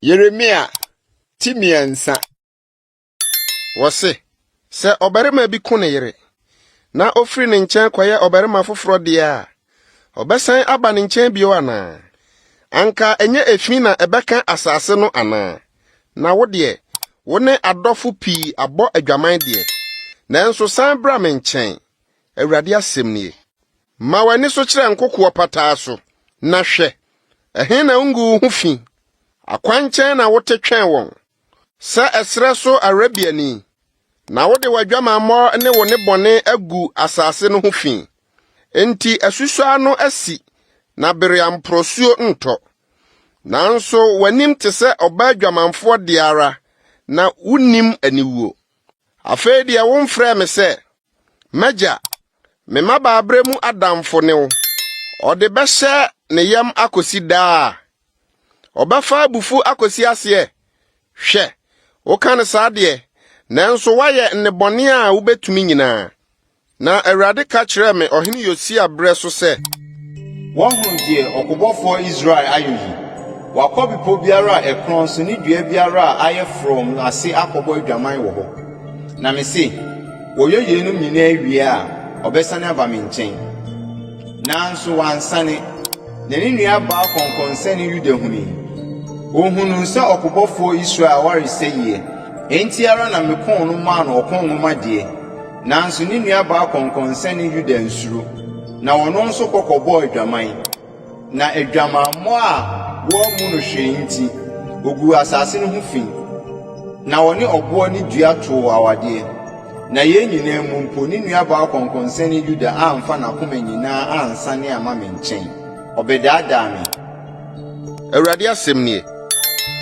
Yeremia ti mmiɛnsa. Wɔse, sɛ ɔbarima bi ko ne yere na ofiri ne nkyɛn kɔyɛ ɔbarima foforɔ deɛ a, ɔbɛsan aba ne nkyɛn bio anaa? Anka ɛnyɛ efi na ɛbɛka asase no anaa? Na wo deɛ, wo ne adɔfo pii abɔ adwaman deɛ, nanso san bra me nkyɛn, Awurade asɛm nie. Ma w'ani so kyerɛ nkokoɔ pataa so, na hwɛ, ɛhe na wonguu wo ho fi? Akwankyɛn na wote twɛn wɔn, sɛ ɛserɛ so Arabiani, na wode w'adwamammɔ ne wo nnebɔne agu asase no ho fi. Enti asusɔ ano asi, na bere a mporɔsuo ntɔ. Nanso w'anim te sɛ ɔbaa dwamanfoɔ deɛ ara, na wonnim aniwuo. Afei deɛ womfrɛɛ me sɛ. M'agya, me mmabaaberɛ mu adamfo ne wo. Ɔde bɛhyɛ ne yam akosi daa. Ɔbɛfa abufuo akosi aseɛ. Hwɛ, woka no saa deɛ, nanso woayɛ nnebɔne a wobɛtumi nyinaa. Na Awurade ka kyerɛɛ me ɔhene Yosia berɛ so sɛ. Wɔahunu deɛ ɔkobɔfoɔ Israel ayɔ yi? Wakɔ bepɔ biara a ɛkorɔn so ne dua biara a ayɛ frɔmm no ase akɔbɔ adwaman wɔ hɔ. Na mese, wɔyɛ yeinom nyinaa wie a, ɔbɛsane aba me nkyɛn. Nanso wansane, na ne nuabaa kɔnkɔnsɛne Yuda hunui. Ɔhunuu sɛ ɔkobɔfoɔ Israel ware sɛeɛ, enti ara na mekoo no maa no ɔko nwomadeɛ. Nanso ne nuabaa kɔnkɔnsɛne Yuda ansuro. Na ɔno nso kɔ kɔbɔɔ adwaman, na adwamammɔ a wɔammu no hwee nti, oguu asase no ho fi. Na ɔne ɔboɔ ne dua too awadeɛ. Na yei nyinaa mu mpo, ne nuabaa ɔkɔnkɔnsani Yuda amfa n'akoma nyinaa ansane amma me nkyɛn. Ɔbɛdaadaa me. Awurade asɛm nie.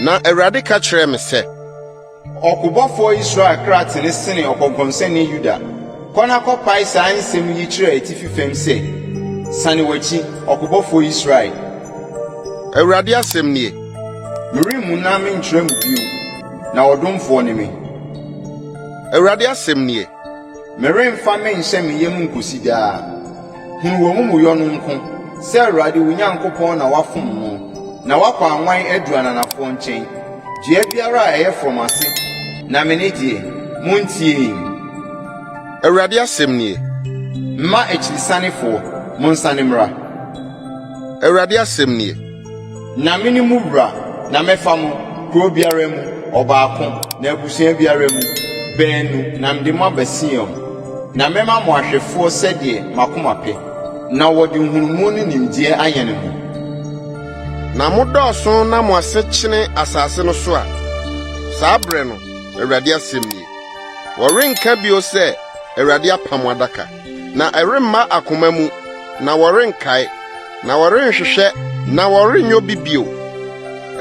Na Awurade ka kyerɛɛ me sɛ. Ɔkobɔfoɔ Israel kra tene sene ɔkɔnkɔnsani Yuda. Kɔ na kɔpae saa nsɛm yi kyerɛ atifi fam sɛ, Sane w'akyi, ɔkobɔfoɔ Israel. Awurade asɛm nie. Meremmu na menkyerɛ mo bio, na ɔdomfoɔ ne me. Awurade asɛm nie. Meremfa me nhyɛ me yam nkosi daa. Hunu w'amumuyɔ no nko, sɛ Awurade wo Nyankopɔn na woafom no, na woakɔ anwan adu ananafoɔ nkyɛn, dua biara a ɛyɛ frɔmm ase, na mene deɛ. Montie! Awurade asɛm nie. Mma akyirisanefoɔ, monsane mmra! Awurade asɛm nie. Na mene mo wura, na mɛfa mo, kuro biara mu, ɔbaako, na abusua biara mu, baanu, na mede mo aba Sion. Na mɛma mo ahwɛfoɔ sɛdeɛ m'akoma pɛ, na wɔde nhunumu ne nimdeɛ ayɛne mo. Na modɔɔso na mo ase kyene asase no so a, saa berɛ no, Awurade asɛm nie, wɔrenka bio sɛ, Awurade apam adaka. Na ɛremma akoma mu, na wɔrenkae, na wɔrenhwehwɛ, na wɔrenyɛ obi bio.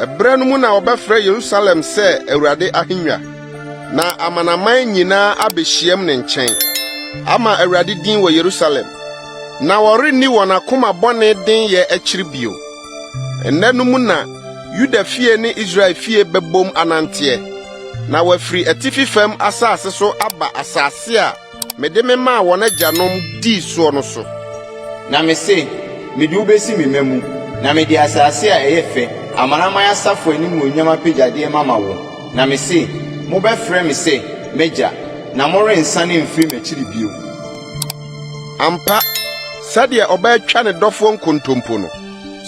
Ɛbra no mu na wɔbɛfrɛ Yerusalem sɛ Awurade ahengua, na amanaman nyinaa abehyiam ne nkyɛn ama Awurade din wɔ Yerusalem. Na wɔrenni wɔn akoma bɔne den yɛ akyiri bio. Ɛnnɛ no mu na Yuda fie ne Israel fie bɛbom ananteɛ, na wɔafiri atifi fam asase so aba asase a Mede me maa wɔn agyanom dii soɔ no so. Na mese, Mede wo bɛsi me mma mu, na mede asase a ɛyɛ fɛ, amanaman asafo animuonyam apɛgyadeɛ mama wo. Na mese, Mobɛfrɛ me sɛ m'Agya, na morensane mfiri m'akyiri bio. Ampa, sɛdeɛ ɔbaa twa ne dɔfoɔ nkontompo no,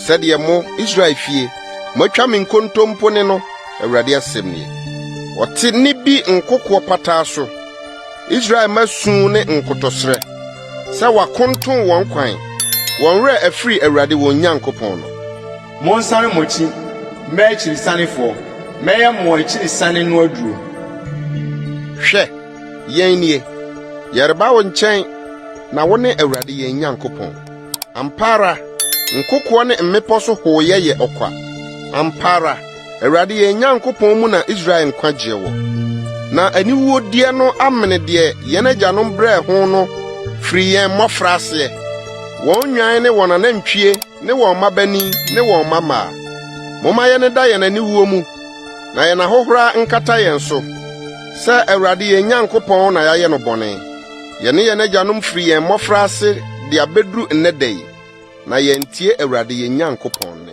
sɛdeɛ mo, Israel fie, moatwa me nkontompo ne no, Awurade asɛm nie. Wɔte nne bi nkokoɔ pataa so. Israel mma su ne nkotɔsrɛ sɛ wɔakontow wɔn kwan, wɔn werɛ afiri Awurade wɔn Nyankopɔn no. Monsane mo akyi mma akyirisanefoɔ, mɛyɛ mo akyirisanee no aduro. Hwɛ, yɛn nie, yɛreba wo nkyɛn, na wone Awurade yɛn Nyankopɔn. Ampa ara, nkokoɔ ne mmepɔ so hooyɛ yɛ ɔkwa. Ampa ara, Awurade yɛn Nyankopɔn mu na Israel nkwagyeɛ wɔ, na aniwuodeɛ no amene deɛ yɛn agyanom brɛɛ ho no firi yɛn mmɔfraaseɛ, wɔn nnwan ne wɔn anantwie ne wɔn mmabanin ne wɔn mmammaa. Momma yɛn da yɛn aniwuo mu, na yɛn ahohora nkata yɛn so, sɛ Awurade yɛn Nyankopɔn na yɛayɛ no bɔne. Yɛne yɛn agyanom firi yɛn mmɔfraase de abɛduru nnɛ da yi, na yɛantie Awurade yɛn Nyankopɔn nne.